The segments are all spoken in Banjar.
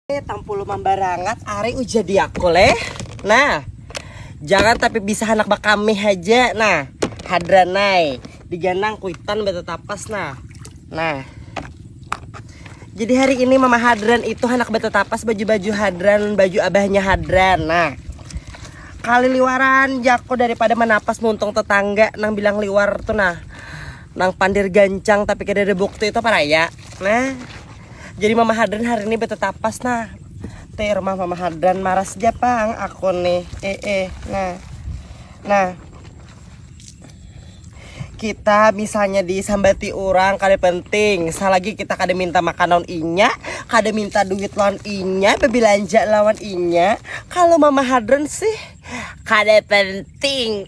Eh, tampulu mambarangat are uja diaku leh. Nah, jangan tapi bisa anak bakami aja. Nah, hadranai diganang kuitan betetapas nah. Nah. Jadi hari ini Mama Hadran itu anak betetapas baju-baju Hadran, baju abahnya Hadran. Nah, kali liwaran jako daripada menapas muntung tetangga nang bilang liwar tuh nah nang pandir gancang tapi kada ada bukti itu apa raya nah jadi mama hadran hari ini betetapas nah teh rumah mama hadran maras japang aku nih eh eh nah nah kita misalnya disambati orang kada penting selagi kita kada minta makan lawan inya kada minta duit lawan inya berbelanja lawan inya kalau mama hadron sih kada penting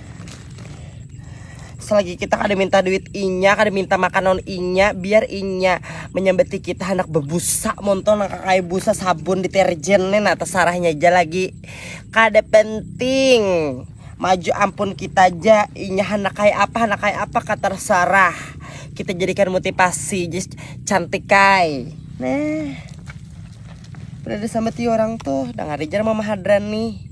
selagi kita kada minta duit inya kada minta makanan inya biar inya menyambeti kita hendak bebusa monto nang kakai busa sabun deterjen nih nah terserahnya aja lagi kada penting maju ampun kita aja inya hendak kayak apa hendak kayak apa kata terserah kita jadikan motivasi just cantik kai nah berada sama ti orang tuh dengar aja mama hadrani